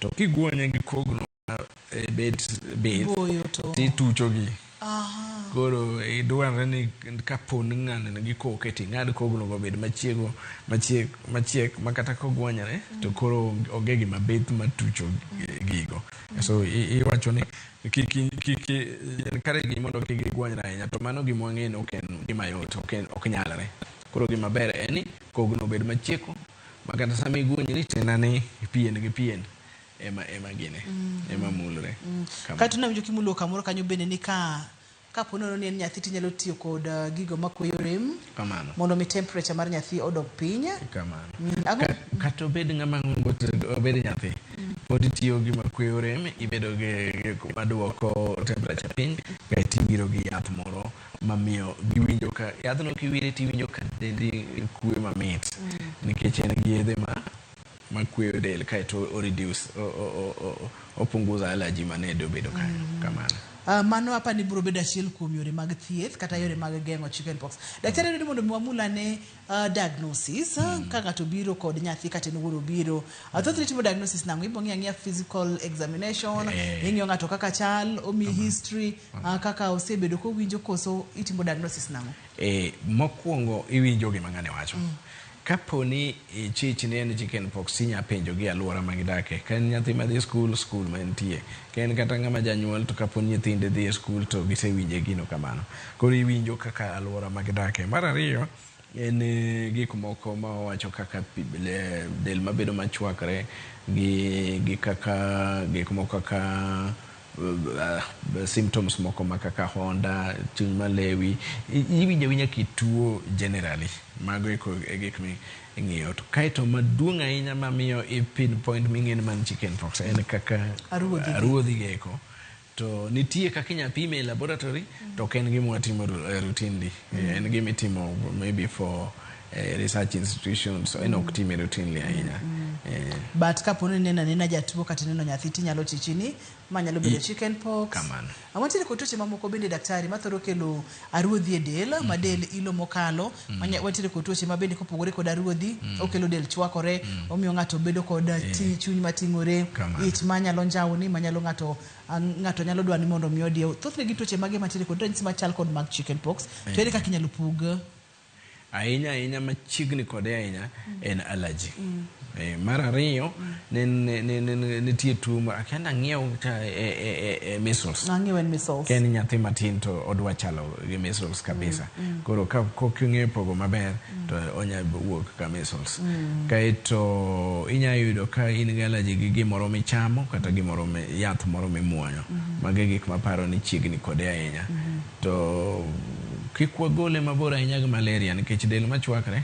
to kigwonye gi kogno e bet bet tituchogi koro e, dwarore ni kapon ng'aneno gi koke to ing'ad kogno go bed machiego machiek machiek ma kata kogwanyore to koro onge gima bith matucho gigo so iwacho ni kare gi mondo kik gigwanyre ahinya to mano gima wang'eyo ni ok en gima yot ok nyalre koro gima ber en ni kogno obed machieko makata sama iguonyri tena ni pien gi pien ema ema gine mm. ema mulre mm. kae to nawinjo kimulo kamoro kanyo bende ni ka kapo nono ni en nyathi tinyalo tiyo kod uh, gigo makweyo rem kamano mondo mi temperature mar nyathi odog piny kamano mm. kata obed ng'ama obed nyathi mm. pod itiyo gi makweyo rem ibedo gi maduoko temperature piny kae tibiro gi yath moro mamiyo giwinjo ka yadhno kiwire tiwinjo ka dendi kuwe mamit mm. nikech en gi yedhe ma makweyo del kaeto o reduce opunguza allergy mane dobedo ka mm. kamano Uh, mano apa ni biro bedo achiel kuom yore mag thieth kata yore mag geng'o chickenpox. Daktari, mm. mondo mi wamulane Uh, diagnosis uh, mm. ka ng'ato biro kod nyathi kata en wuoro biro uh, thothne itimo diagnosis nango ibo ng'iyo ang'iya physical examination Eh. ing'iyo ng'ato kaka chal omi history uh, kaka osebedo kowinjo koso itimo diagnosis nango e, mokwongo iwinjo gima ng'ane wacho mm. kapo ni e, chich ne en chicken pox inya penjo gi alwora ma gidake ka en nyathi ma dhi skul skul ma entie ka en kata ng'ama janyuol to kapo ni nyithinde dhi e skul to gisewinje gino kamano Koro iwinjo kaka alwora ma gidakie. Mar ariyo, en eh, gik moko ma wawacho kaka pi- le- del mabedo machwakre gi, gi kaka gik moko kaka uh, symptoms moko ma kaka honda, chuny malewi, I- iwinjo awinja kituo generally. Mago eko e gik mi ing'iyo. To Kaeto maduong' ahinya mamiyo i pinpoint ming'e ni man chicken pox en kaka Aruodhi. aruodhi geko. To nitie kaka inya pime e laboratory to ok en gima watimo eh, routinely. Eh, en gima itimo maybe for eh, research institutions. So en ok time routinely ahinya. Eh, but kapo ni nena nena jatuo kata neno nyathi tinyalo chichi ni ma nyalo bedo chicken pox Kamano. awantiere kod tuoche mamoko bende daktari mathoro kelo Aruodhi e del, ma del ilo mokalo, ma nya- watiere kod tuoche ma bende kopogore kod aruodhi, okelo del chwakore, omiyo ng'ato bedo kod uh, ti- chuny mating'ore, Kamano. ich ma nyalo njawni, ma nyalo ng'ato ah, ng'ato nyalo dwani mondo mi odiew. Thothne gin tuoche mage mantiere kod ranyisi machal kod mag chicken pox, to ere kaka inyalo pog? ahinya ahinya machiegni kode ahinya en allergy Eh, mar ariyo ne- ne- ne- ne- ne- nitie tuo ma akia nang'iew ka e- e- e- e measles Ang'eyo en measles. ka en nyathi matin to odwa chalo gi measles kabisa koro ka koking'eyo pogo maber to onya wuok ka measles kaeto inya yudo ka in gi allergy gi gimoro michamo kata gimoro mi- yath moro mimuonyo mago e gik maparo ni chiegni kode ahinya To kik wagole mabor ahinya gi malaria nikech del machwakre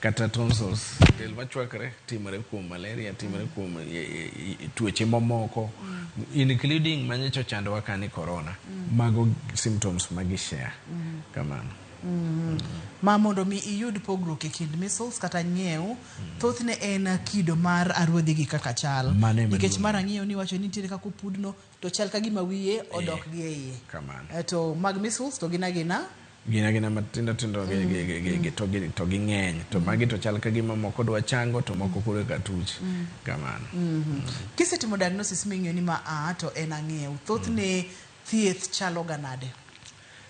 kata tonsils, del machwakre timore kuom malaria, timore kuom e, e, e, tuoche mamoko mm. including manyocha ochandowa ka ni corona. Mm. Mago symptoms ma gi share. Mm. Kamano. Mm. Ma mondo mi iyud pogruok e kind measles kata ng'iew mm. thothne en kido mar aruodhi gi kaka chal nikech mar ang'iew ni wacho ni nitiere kaka opudno to chal ka gima wiye odok gi e iye kamano. Eh, to mag measles to gin agina gin agina matindo tindo gi- gi- gi- gi- gi- to gi- to ging'eny to magi to chal ka gima moko dwa chango to moko koro eka tuch kamano kisetimo diagnosis ming'eyo ni ma a to en ang'ew thothne thieth chalo ga nade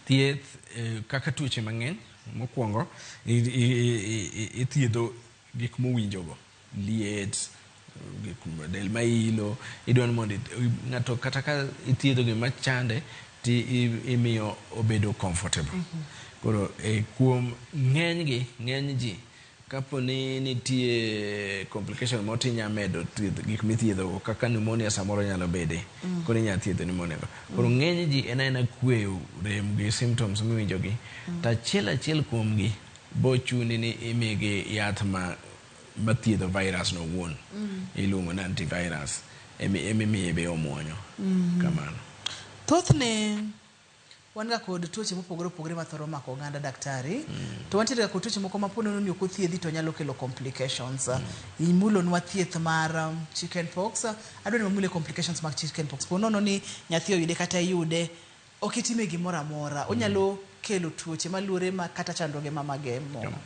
thieth eh, kaka tuoche mang'eny mokwongo i- i- i- i- ithiedho gik mowinjogo liet, del ma ilo, idwa ni mondo ng'ato kata ka ithiedho gima chande to imiyo obedo comfortable. Mm -hmm. Koro e, kuom ng'enygi, ng'eny ji kapo ni nitie complication moro to inyalo medo thiedho gik mithiedhogo kaka pneumonia samoro nyalo bede mm. koro inyalo thiedho pneumonia go koro mm. ng'eny ji en aena kweyo rem gi symptoms miwinjogi mm. to achiel achiel kuomgi bochuni ni imigi yath ma ma thiedho virus no wuon mm. iluongo ni antivirus emimiye be omwonyo mm. kamano thothne wan ga kod tuoche mopogore opogore ma thoro mako oganda daktari mm. to wantiere ga kod tuoche moko ma po nono ni ok othiedhi to nyalo kelo complications mm. imulonwa thieth mar um, chicken pox adwa ni wamule complications mag chicken pox po nono ni nyathi oyude kata iyude Ok itime gimoro amora. Onyalo kelo tuoche maluore ma kata chandruoge ma mage muma.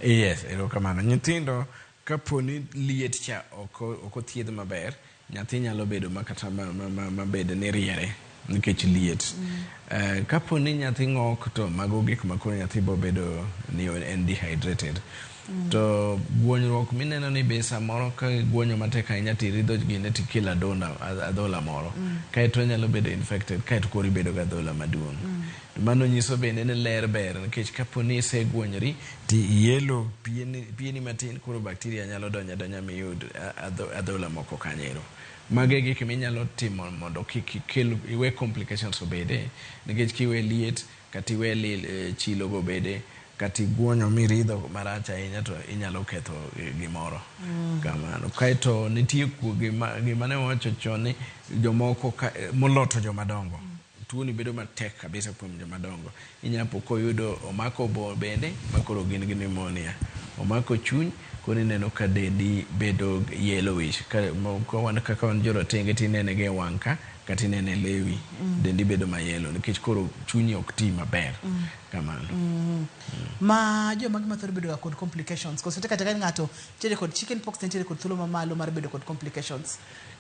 Yes, erokamano. Nyithindo kaponi liet cha ok ok othiedh maber, nyathi nyalo bedo ma kata ma ma ma ma bed ni riere nikech liet. Eh, kaponi nyathi ng'ok to mago gik ma koro nyathi bobedo ni en dehydrated. Mm. To guonyruok mineno ni be samoro ka guonyo matek ahinya to iridho gine to ikelo adonda adhola moro mm. kaeto onyalo bedo infected kaeto koro ibedo gi adhola maduong'. Mm. To mano nyiso bende ni ler ber nikech kapo ni iseguonyori to iyelo pieni, pieni matin koro bakteria nyalo donyo adonya miyud adhola moko kanyero. Mago e gik minyalo timo mondo kik ikel iwe complications obede nikech kiwe liet Kata iwe lil, chilo go bede, kata iguonyo miridho marach ahinya to inyalo ketho gimoro kamano. Kaeto nitie ku, gima, gima ne wawacho chon ni jomoko ka, molo to joma dongo. Tuoni bedo matek kabisa kuom joma dongo. Inya po koyudo, omako obo bende ma koro gin gi pneumonia. Omako chuny, koro ineno ka dendi bedo yellowish. Ka, ka wan, kaka wan joratenge to inene ga e wang' ka. Kata ineno e lewi, dendi bedo ma yellow nikech koro chunyi ok ti maber. Kamano. Ma joma gima thoro bedo ga kod complications. Koso te kata ka ng'ato nitiere kod chicken pox to nitiere kod thuolo ma malo mar bedo kod complications.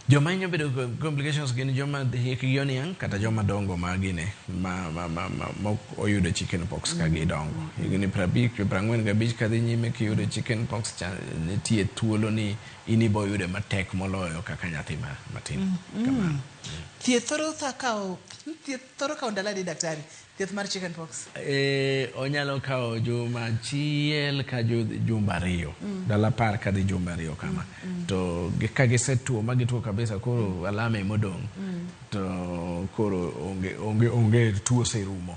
Joma hinyo bedo kod complications gin joma hikgi oniang' kata joma dongo ma gine ma ma ma ma mok oyudo chicken pox ka gidongo. Higni prabich prang'wen gabich kadhi nyime kiyudo chicken pox cha nitie thuolo ni In iboyude matek moloyo kaka nyathi ma matin. Mm -hmm. Kamano. Mm. Thieth thoro thakao, thieth thoro kao ndalo adi daktari? Thieth mar chicken pox. Eh, onyalo kao juma achiel ka jumba ariyo. Mm. Dala par ka dhi jumba ariyo kama. Mm. mm. To ka gisetuo ma gituo kabisa koro mm. alama emodong. Mm. To koro onge onge onge tuo serumo.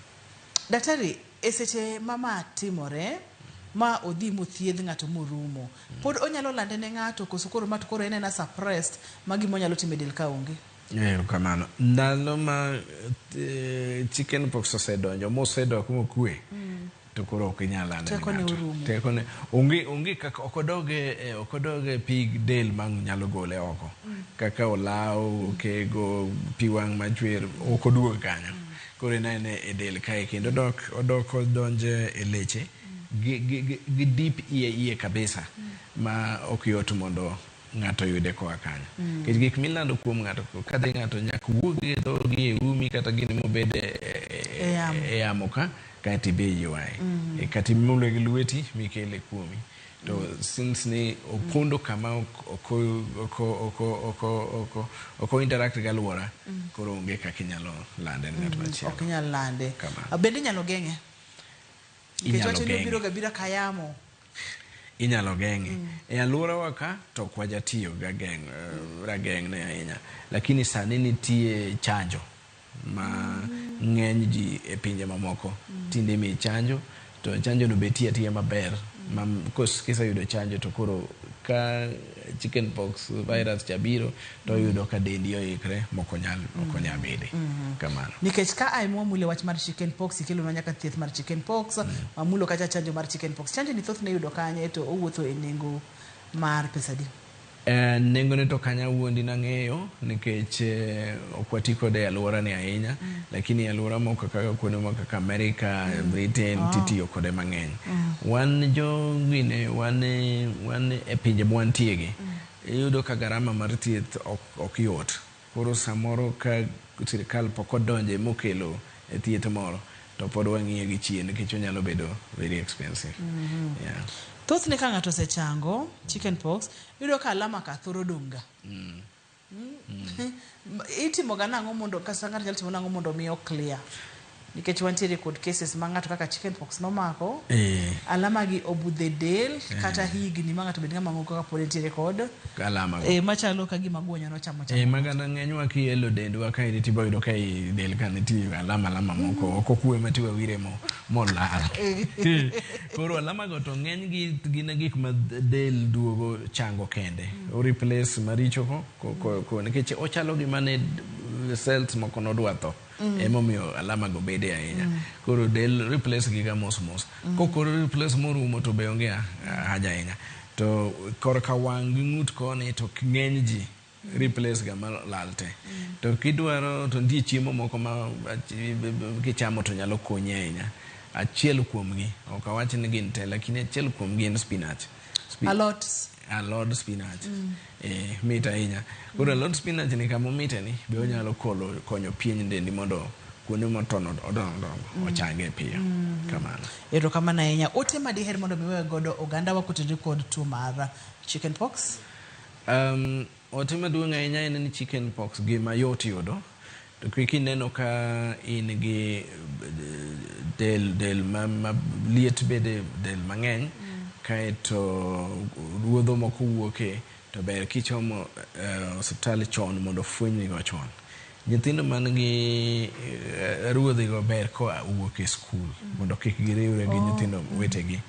Daktari e seche ma ma timore ma odhi mothiedh ng'ato morumo, pod onyalo lande ne ng'ato koso koro ma to koro en ena suppressed ma gima onyalo timo e del ka onge? Ero kamano. Ndalo ma chicken pox osedonjo mosedok mokwe to koro ok inyal lande ne Tekone ng'ato. orumo. Tekone onge onge kaka ok odog e e- ok odog e pig del ma nyalo gole oko kaka olaw, okego, pi wang' machwer ok oduog kanyo. Koro inene e del kae kendo odok odok odonje e leche gi, gi, gi, gi deep iye iye kabisa ma ok yot mondo ng'ato yude koa kanyo nikech gik milando kuom ng'ato ka dhi ng'ato nyaka wuog e dhogi e umi kata gini mobed e, e, E yamo. e yamo ka kaeto ibe ywaye mm. kata imule gi lweti mikele kuomi to since ni opondo kama oko interact gi alwora koro onge kaka inyalo lande ne ng'at machielo ok inyal lande Kamano. bende inyalo geng'e nikech Inyalo wacho ni geng'e. obiro gabira kayamo inyalo geng'e e alworawa ka to ok wajatiyo ga geng' eh, rageng'ne ahinya lakini sani nitie chanjo ma ng'eny ji e pinje mamoko tinde imiyi chanjo to chanjono be tiyo atiya maber ma kiseyudo chanjo to koro ka chicken pox virus cha biro to oyudo ka dendi oikre moko nyal ok onyal mm. bede mm-hmm. kamano nikech ka ai mwamulo wach mar chicken pox ikelonwa nyaka thieth mar chicken pox mm. wamulo kacha chanjo mar chicken pox chanjo ni thoth ne yudo kanye to owuotho e nengo mar pesa di Nengone to ok anyal wuondi nang'eyo nikech ok wati kode e alworani ahinya, lakini e alwora moko kaka kuonde moko kaka Amerika, Britain titiyo kode mang'eny. Wan jo gine, wan e pinje mwantiegi, iyudo ka garama mar thieth ok yot. Koro samoro ka sirkal pok odonje mokelo thieth moro to pod wang'iye gi chien nikech onyalo bedo very expensive. Yeah. Thothne ka ng'ato osechango chicken pox, iyudo ka alama ka thoro dong' ga. Itimoga nang'o mondo kata ng'ato nyalo timo nang'o mondo mi o clear? nikech wantiere kod cases ma ng'ato kaka chicken pox nomako eh, alama gi obudhe del kata higni ma ng'ato bed ng'ama ng'o kaka pod entiere kod alama go. e, machalo ka gima guonyo nochamo Eh, chamo magana ng'enywa kielo dendwa ka iriti ba yudo ka i del ka nitie alama alama moko ok okwe ma tiwa wire mo molal koro alama go to ng'eny gi gin gik ma del duogo chango kende o replace maricho ko, ko, ko, ko nikech ochalo gima ne cells moko nodwa tho Mm. Emomiyo alama go bede ahinya. Mm. Koro del replace giga mos mos. Mm. Kokoro replace morumo to be onge ah, haja ahinya. To korka wang' gi ng'ut koni to ng'eny ji replace ga malal te. Mm. To kidwaro to nitie chiemo moko ma kichamo to nyalo konyi ahinya. Achiel kuomgi, ok awach ni gin te, lakini achiel kuomgi en spinach. Spin Alot. alod spinach mm. eh, mit ahinya koro alod spinach ni kama omite ni be onyalo kolo konyo pien dendi mondo kuonde motono odongo dongo mm. ochange piyo mm. kamano ero kamano ahinya ote ma diher mondo miwe godo oganda wakutenre kod tuo mar chicken pox um, Ote maduong' ahinya en ni chicken pox gi mayot yudo to kik ineno ka in gi del del ma, ma liet bede del mang'eny kaeto ruodho moko wuoke to ber kichomo eh, osiptal chon mondo ofwenynigo chon. Nyithindo man gi ruodhigo ber ka owuok e skul mondo kik giriwre gi nyithindo wetegi.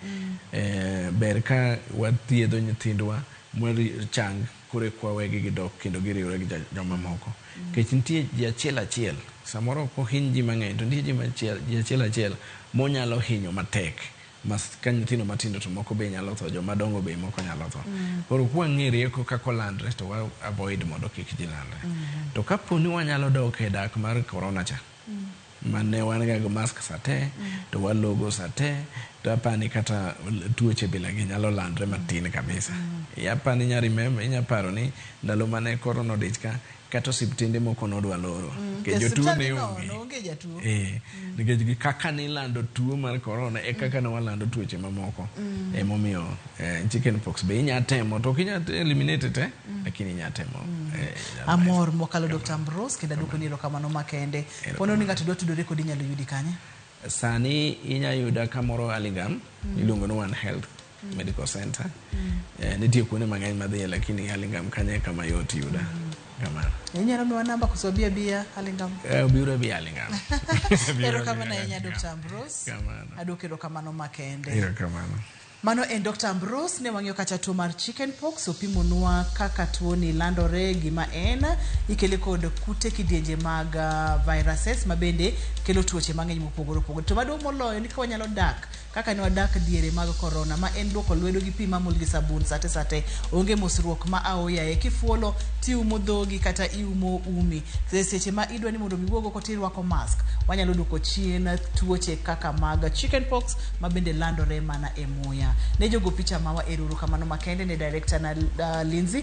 Ber ka wathiedho nyithindwa ma chang koro eka wawegi gidok kendo giriwre gi jomamoko. Nikech nitie ji achiel achiel, samoro ok ohiny ji mang'eny to nitie ji achiel achiel monyalo hinyo matek. Mas ka nyithindo matindo to moko be nyalo tho, joma dongo be moko nyalo tho. Koro kwa ng'e rieko kaka olandre to wa avoid mondo kik ji landre. To ka po ni wanyalo dok e dak mar korona cha, ma ne wan ga gi mask sa te, to walogo sa te, to apa ni kata tuoche bila gi nyalo landre matin kabisa. Apa ni inya remember, inya paro ni ndalo mane korona odich ka, Kata osiptende moko nodwa loro nikech jotuo ne onge. Eh, nikech gi kaka nilando tuo mar korona e kaka ne walando tuoche mamoko. Mm. Emomiyo eh, chicken pox be inya temo to ok inya eliminate te mm. lakini inya temo. Mm. Eh, Amor mokalo Dr. Ambrose kendo aduoko ni erokamano makende. Pono ni ng'ato dwa tudore kodi inyalo yudi kanye? Sani inya yuda kamoro Aligam iluongo ni One Health. mm. medical center mm. eh, nitie kuonde mang'eny madhiye lakini halingam kanye kama yot yuda mm. kamano inyalo miwa namba koso bia bia halingam eh, biro bia halingam ero kamano ahinya dr ambros kamano adwoko ero kamano makende ero kamano Mano en Dr. Ambrose ne wang'iyo kata tuo mar chicken pox opimonwa kaka tuo ni landore gima en ikele kod kute kidienje mag uh, viruses mabende kelo tuoche mang'eny mopogore opogore to maduong' moloyo ni ka wanyalo dak Kaka ne wadak diere mag korona ma en luoko lwedo gi pi mamul gi sabun sate sate, onge mosruok ma aoyaye. Kifuolo tiumo dhogi kata iumo umi. E seche ma idwa ni mondo mi iwuog oko tirwako mask. Wanyalo duoko chien tuoche kaka mag chicken pox ma bende landore mana e muya. Ne jogo picha mawa erouru kamano makende ne director na uh, Lindsay